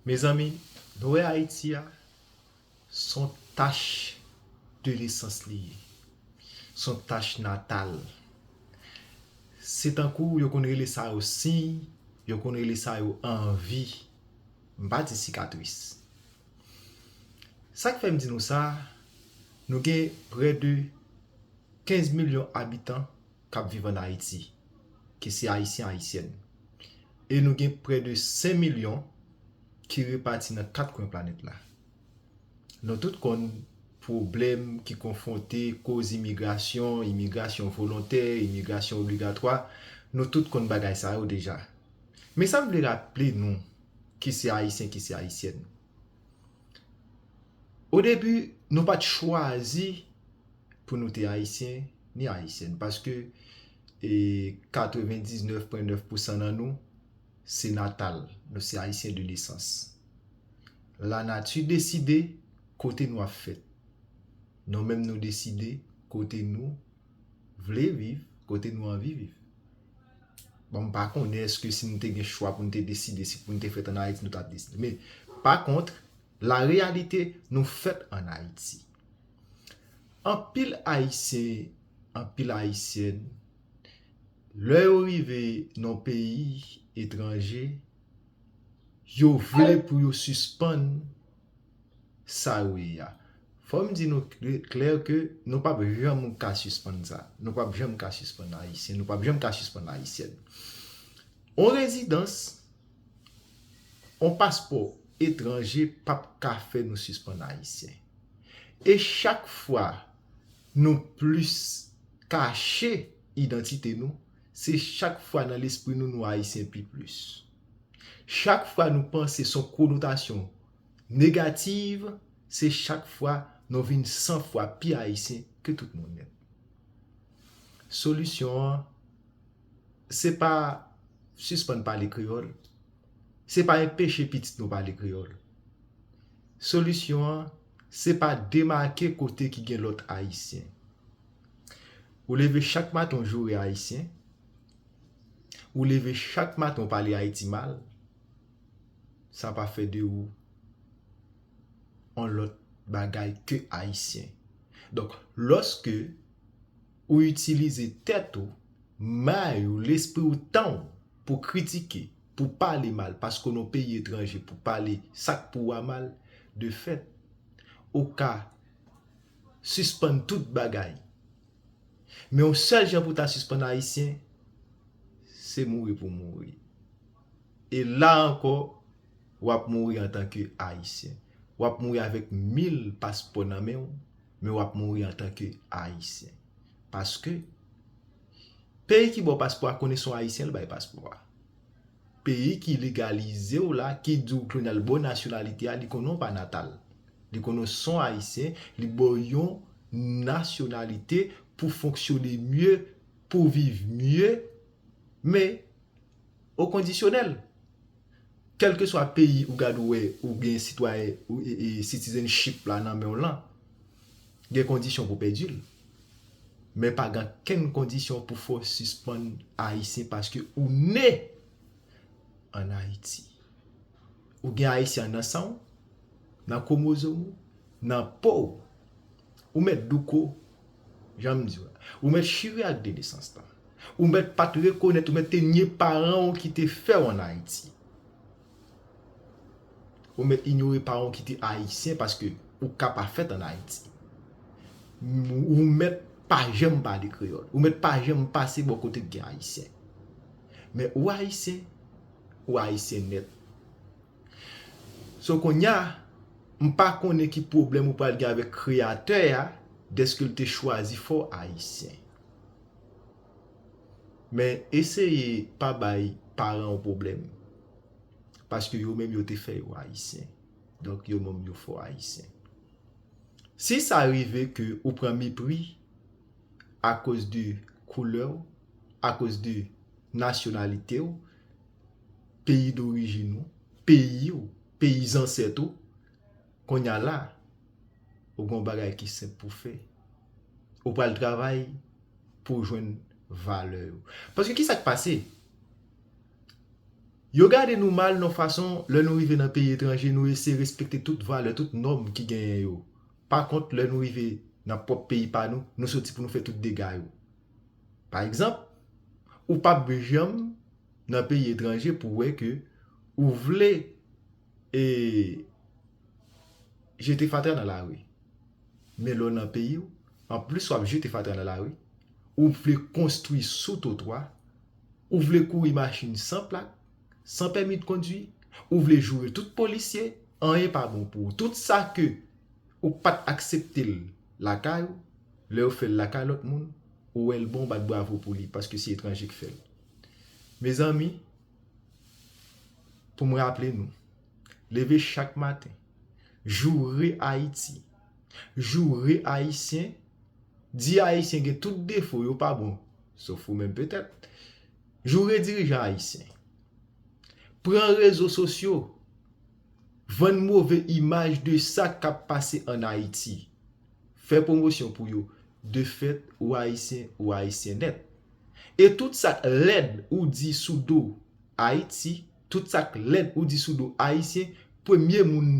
Mezanmi, dwe Ayiti a, se yon tach de nesans li ye. Se yon tach natal. Se tankou yo konn rele sa yo siy, yo konn rele sa yo anvi. M pa di sikatris. Sa k fè m di nou sa, nou gen prè de 15 milyon abitan k ap viv an Ayiti, ki se Ayisyen Ayisyèn. E nou gen prè de 5 milyon ki repati nan 4 kwen planèt la. Nou tout konn pwoblèm ki konfwonte koz imigrasyon, imigrasyon volontè, imigrasyon obligatwa, nou tout konn bagay sa yo deja. Men sa m vle raple nou ki se Ayisyen ki se Ayisyèn. Odebi nou pa t chwazi pou nou te Ayisyen, ni ayisyèn paske 99,9 pousan nan nou se natal, nou se ayisyen de nesans. La nati deside kote nou ap fèt. Nou menm nou deside kote nou vle viv, kote nou anvi viv. Bon m pa konnen eske si nou te gen chwa pou nou te deside si pou nou te fèt an Ayiti nou ta deside. Men pa kontr la reyalite nou fèt an Ayiti. Anpil Ayisyen, anpil Ayisyèn, lè yo rive nan yon peyi etranje, yo vle pou yo sispann sa yo ye a. Fò m di nou klè ke nou p ap janm ka sispann sa. Nou p ap janm ka sispann Ayisyen, nou p ap janm ka sispann Ayisyèn. Yon rezidans. On paspò etranje pap ka fè nou sispann ayisyen. E chak fwa nou plis kache idantite nou, se chak fwa nan lespri nou nou ayisyen pi plis. Chak fwa nou panse son konotasyon negativ, se chak fwa nou vin san fwa pi ayisyen ke tout moun. Solisyon an Se pa sispann pale kreyòl. Se pa enpeche pitit nou pale kreyòl. Solisyon an, se pa demake kote ki gen lòt Ayisyen. Ou leve chak maten ou joure Ayisyen, ou leve chak maten ou pale Ayiti mal, sa pa fè de ou yon lòt bagay ke Ayisyen. Donk, lòske. Ou itilize tèt ou, may ou, lespri ou, tan ou pou kritike, pou pale mal paske w nan yon peyi etranje pou pale sa k pou ou a mal, de fèt, ou ka sispann tout bagay. Men yon sèl jan pou w ta sispann Ayisyen, se mouri pou w mouri. E la ankò, w ap mouri antanke Ayisyen. W ap mouri avèk mil paspò nan men w, men wap mouri antan ke ayisyen. Paske, peyi ki ba w paspò a konnen se yon ayisyen li bay paspò a. Peyi ki legalize w la, ki di w ke nan li ba w nasyonalite a, li konnen w pa natal. Li konnen w se yon ayisyen, li ba w yon nasyonalite pou fonksyone mye, pou viv mye. Men, o kondisyonèl. Kèlkeswa peyi ou gad ou wè ou gen sitwayen, citizenship la nan men w lan, gen kondisyon pou pèdi l. Men pa gen ankenn kondisyon pou fè w sispann Ayisyen paske ou ne ann Ayiti. Ou gen Ayisyen nan san w, nan kwomozom ou, nan po w. Ou mèt douko Janm diw la. Ou mèt chire ak de nesans lan. Ou mèt pat rekonèt, ou mèt te nye paran w ki te fè w an Ayiti. Ou mèt inyore paran w ki te Ayisyen paske ou ka pa fèt an Ayiti. Ou mèt pa janm pale kreyòl. Ou mèt pa janm pase bò kote k gen Ayisyen. Men ou Ayisyen, ou Ayisyen nèt. So konnya m pa konnen ki pwoblèm ou pral gen avèk kreyatè a dèske l te chwazi fè w ayisyen. Men eseye pa bay paran w pwoblèm. Paske yo menm yo te fè yo ayisyen. Donk yo menm yo fè w ayisyen. Si sa rive ke ou pran mepri akoz de koulè w, akoz de nasyonalite w, Peyi dorijin ou, peyi ou, peyi zansèt ou, kounye a la, ou gen yon bagay ki senp pou w fè. Ou pral travay pou w jwenn valè yo. Paske ki sa k pase? Yo gade nou mal yon fason, lè nou rive nan peyi etranje, nou eseye respekte tout valè, tout nòm ki genyen yo. Pa kont, lè nou rive nan pwòp peyi pa nou, nou soti pou nou fè tout dega yo. Pa egzanp, ou pap janm nan peyi etranje pou wè ke ou vle e jete fatra nan lari. Men lè w nan peyi w, an plis w ap jete fatra nan lari, ou vle konstwi sou twotwa, ou vle kouri machin san plak, san pèmi de kondwi, ou vle joure tout polisye, anyen pa bon pou ou. Tout sa ke ou pa t aksepte l lakay ou, lè yo fè l lakay lòt moun, ou wè l bon, ou bat bravo pou li paske se etranje ki fè l. Mezanmi, pou m raple nou, leve chak maten, joure Ayiti, joure Ayisyen, di Ayisyen gen tout defo, yo pa bon, sof ou menm petèt, joure dirijan Ayisyen, pran rezo sosyo, vann move imaj de sa k ap pase an Ayiti. fè pwomosyon pou yo de fèt ou ayisyen ou ayisyen nèt e tout sak lèd ou di sou do ayiti tout sak lèd ou di sou do ayisyen premye moun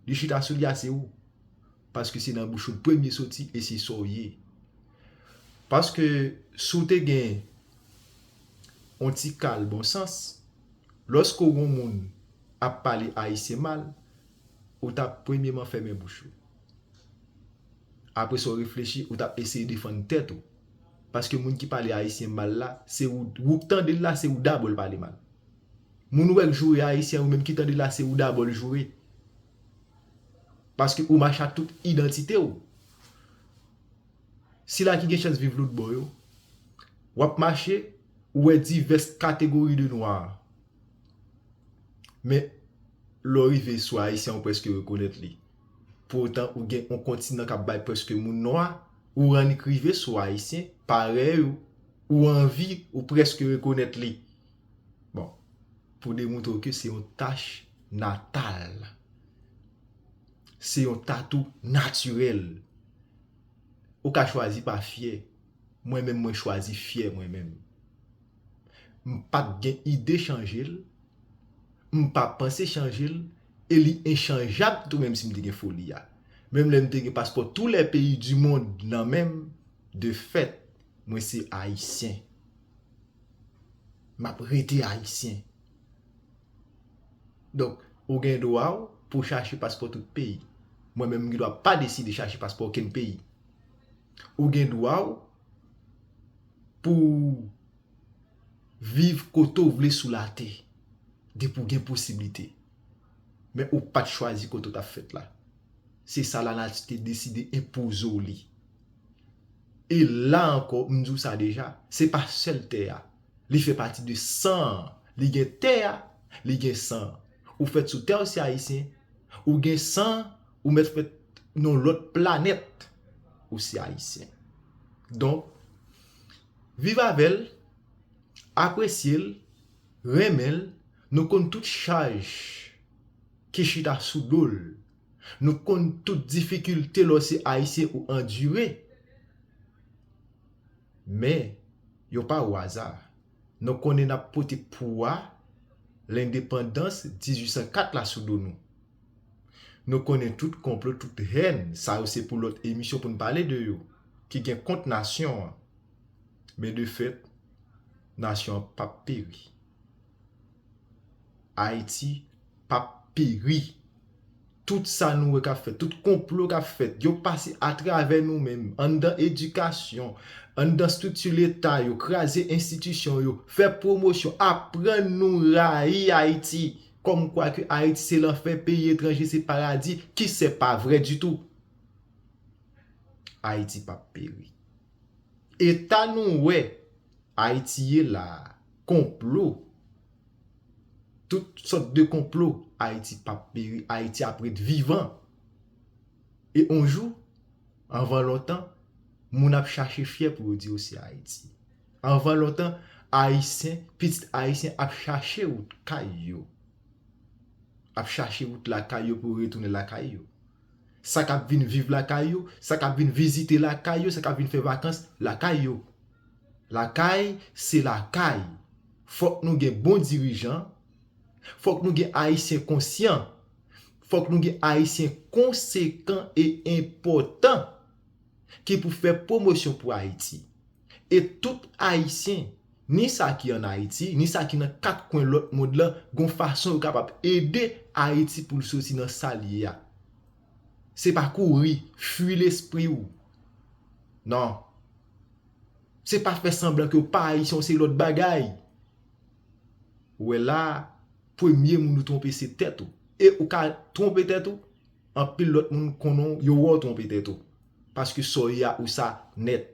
li chita sou li a se ou paske se nan bouch ou premye soti e se sa ou ye paske si w te gen yon ti kal bon sans lòske w wè yon moun ap pale ayisyen mal ou tap premyeman fèmen bouch ou. Aprè sa w reflechi, ou t ap eseye defann tèt ou. Paske moun ki pale Ayisyen mal la, se ou, ou k tande l la, se ou dabò l pale mal. Moun ou wè k joure Ayisyen, ou menm ki tande l la, se ou dabò l joure. Paske ou mache ak tout idantite w. Sila ki gen chans viv lòt bò yo, w ap mache, ou wè divès kategori de nwa. Men, lè w rive sou Ayisyen, ou prèske rekonèt li. Pou otan ou gen on kontinan k ap bay prèske moun nwa, ou annik rive sou Ayisyen, parèy ou, ou anvi, ou prèske rekonèt li. Bon, pou demoutre w ke se yon tach natal, se yon tatou natirèl, ou ka chwazi pa fyè. Mwen menm mwen chwazi fyè mwen menm. M pa gen ide chanje l, m pa panse chanje l, e li enchanjab tou menm si m te gen foli a menm lè m te gen paspò tou lè peyi di mond nan men m de fèt mwen se ayisyen m ap rete ayisyen donk ou gen dwa w pou w chache paspò tout peyi mwen menm m gen dwa pa deside chache paspò okenn peyi ou gen dwa w pou w Viv kote w vle sou latè depi w gen posiblite. Men ou pa t chwazi kote w t ap fèt la. Se sa lanati te deside enpoze w li. E la ankò, m di w sa deja, se pa sèl tè a. Li fè pati de san an. Li gen tè a, li gen san an. Ou fèt sou tè, ou se Ayisyen. Ou gen san an, ou mèt fèt nan yon lòt planèt, ou se Ayisyen. Donk. Viv avè l, apresye l, renmen l, nou konn tout chaj ki chita sou do l, nou konn tout difikilte lè w se Ayisyen ou andire. Men, yo pa ou aza. Nou konnen n ap pote pouwa lendepandans 1804 la sou do nou. Nou konnen tout konplo tout hèn sa yo se pou lòt emisyon pou n pale de yo ki gen kont nasyon an men de fèt nasyon an pap peri Ayiti pap peri tout sa nou wè k ap fèt tout konplo k ap fèt yo pase atravè nou menm anndan edikasyon anndan estrikti leta yo kraze enstitisyon yo fè pwomosyon aprann nou rayi Ayiti Kòm kwa ke Ayiti se lanfè, peyi etranje se paradi, ki sè pa vrè ditou. Ayiti pa p peri. Eta nou wè Ayiti ye la a, konplo, tout sòt de konplo, Ayiti pa p peri, Ayiti ap ret vivan. E on jou, anvan lontan, moun ap chache fyè pou yo di yo se Ayiti. Anvan lontan ayisyen, pitit ayisyen ap chache wout kay yo. Ap chache wout lakay yo pou yo retounen lakay yo. Sa k ap vin viv lakay yo, sa k ap vin vizite lakay yo, sa k ap vin fè vakans lakay yo. Lakay se lakay. Fòk nou gen bon dirijan, fòk nou gen ayisyen konsyan, fòk nou gen ayisyen konsekan e enpòtan ki pou fè pwomosyon pou Ayiti. E tout Ayisyen, ni sa ki an Ayiti, ni sa ki nan kat kwen lòt mond lan, gon fason yo kapab ede Ayiti pou l soti nan sa l ye a. Se pa kouri, fui lespri ou. Non. Se pa fè sanblan ke w pa Ayisyen w se lòt bagay. Ou wè la a, premye moun ou twonpe se tèt ou. E ou ka twonpe tèt ou, Anpil lot moun konnen w yo wè w twonpe tèt ou paske sa w ye a ou sa nèt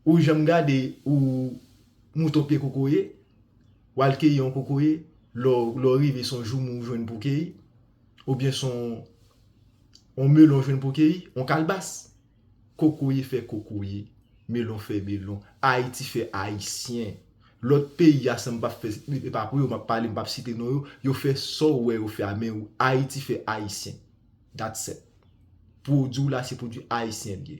ou janm gade ou mouton pye kokoye w al keyi yon kokoye lè w rive son joumou w jwenn pou keyi oubyen son on melon w jwenn pou keyi on kalbas. Kokoye fè kokoye, melon fè melon, Ayiti fè Ayisyen. Lòt peyi a san m pap fè, e pa pou yo m ap pale m pap site non yo, yo fè sa w wè yo fè a men Ayiti fè Ayisyen. That's it. Pwodui w la se pwodui Ayisyen l ye.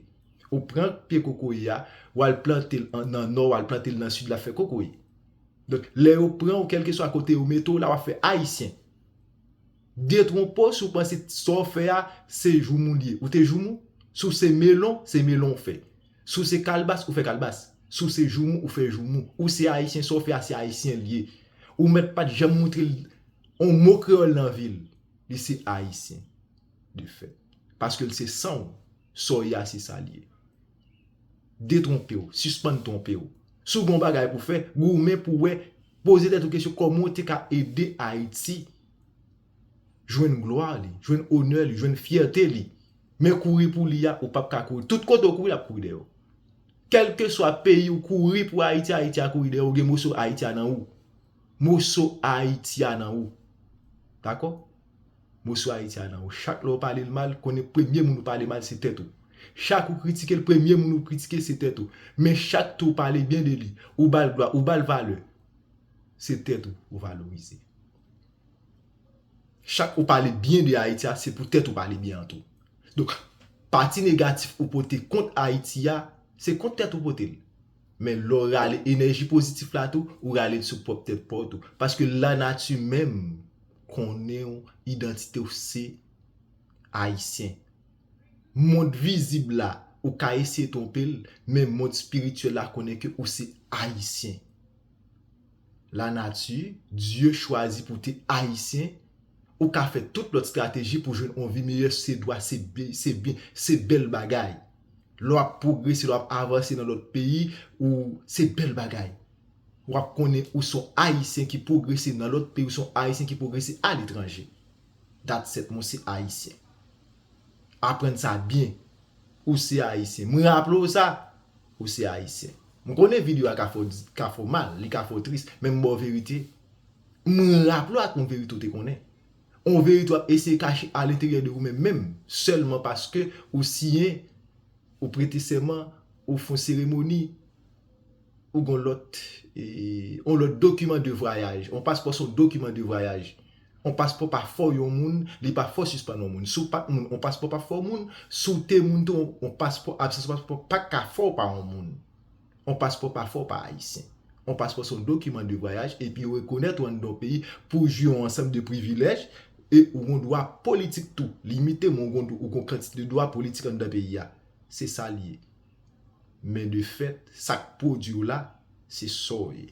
Ou pran pye kokoye a, w al plante l nan Nò, w al plante l nan Sid l ap fè kokoye. Donk lè yo pran w kèlkeswa kote yo mete w la w ap fè Ayisyen. Detwonpo si w panse sa w fè a se joumou li ye. Ou te joumou? Si w se melon, se melon ou fè. Si w se kalbas, ou fè kalbas. Si w se joumou, ou fè joumou. Ou se Ayisyen, sa w fè a se Ayisyen li ye. Ou mèt pa t janm montre l yon mo kreyòl nan vi l. Li se Ayisyen de fèt. Paske l se san w. Sa w ye a se sa l ye. Detwonpe w. Sispann twonpe w. Si w gen yon bagay pou w fè, goumen pou w wè, poze tèt ou kesyon kòman w te ka ede Ayiti. jwenn glwa li, jwenn onè li, jwenn fyète li. Men kouri pou li a, ou pap ka kouri. Tout kote ou kouri, l ap kouri dèyè ou. Kèlkeswa peyi ou kouri pou Ayiti, Ayiti a kouri dèyè ou, gen moso Ayiti a nan ou. Moso Ayiti a nan ou. Dakò? Moso Ayiti a nan ou. Chak lè ou pale l mal, konnen premye moun ou pale mal se tèt ou. Chak ou kritike l, premye moun ou kritike se tèt ou. Men chak tou ou pale byen de li, ou ba l glwa, ou ba l valè, se tèt ou ou valorize. Chak ou pale byen de Ayiti a, se pou tèt ou pale byen an tou. Donk, pati negatif ou pote kont Ayiti a, se kont tèt ou pote l. Men lè w rale enèji pozitif la tou, ou rale l sou pwòp tèt pa w tou. Paske lanati menm konnen w, idantite w se Ayisyen. Mond vizib la, ou ka eseye twonpe l, men mond espirityèl la konnen ke ou se Ayisyen. la nati, Dye chwazi pou te ayisyen, ou ka fè tout lòt strateji pou jwenn on vi meyè se dwa se byen se byen se bèl bagay lè w ap pwogrese lè w ap avanse nan lòt peyi ou se bèl bagay w ap konnen ou son ayisyen ki pwogrese nan lòt peyi ou son ayisyen ki pwogrese aletranje dat sèt mwen se ayisyen. Aprann sa byen. Ou se Ayisyen. M raple w sa, ou se Ayisyen. M konnen video a ka fè w mal, li ka fè w tris, men m ba w verite. M raple w ak yon verite ou te konnen. Yon verite w ap eseye kache alenteryè de ou menm menm, sèlman paske ou siyen, ou prete sèman, ou fè yon seremoni. Ou gen yon lòt, yon lòt dokiman de vwayaj. Yon paspò se yon dokiman de vwayaj. Yon paspò pa fè w yon moun, li pa fè w sispann yon moun. Si w pa t moun, yon paspò pa p fè w moun. Si w te moun tou, yon paspò, absans yon paspò pa t ka fè w pa yon moun. Yon paspò pa fè w pa Ayisyen. Yon paspò se yon dokiman de vwayaj epi yo rekonèt ou anndan yon peyi pou w jwi yon ansanm de privilèj e ou gen yon dwa politik tou. Limite men ou gen yon kantite de dwa politik anndan peyi a. Se sa l ye. Men de fèt, sa k pwodwi w la, se sa w ye.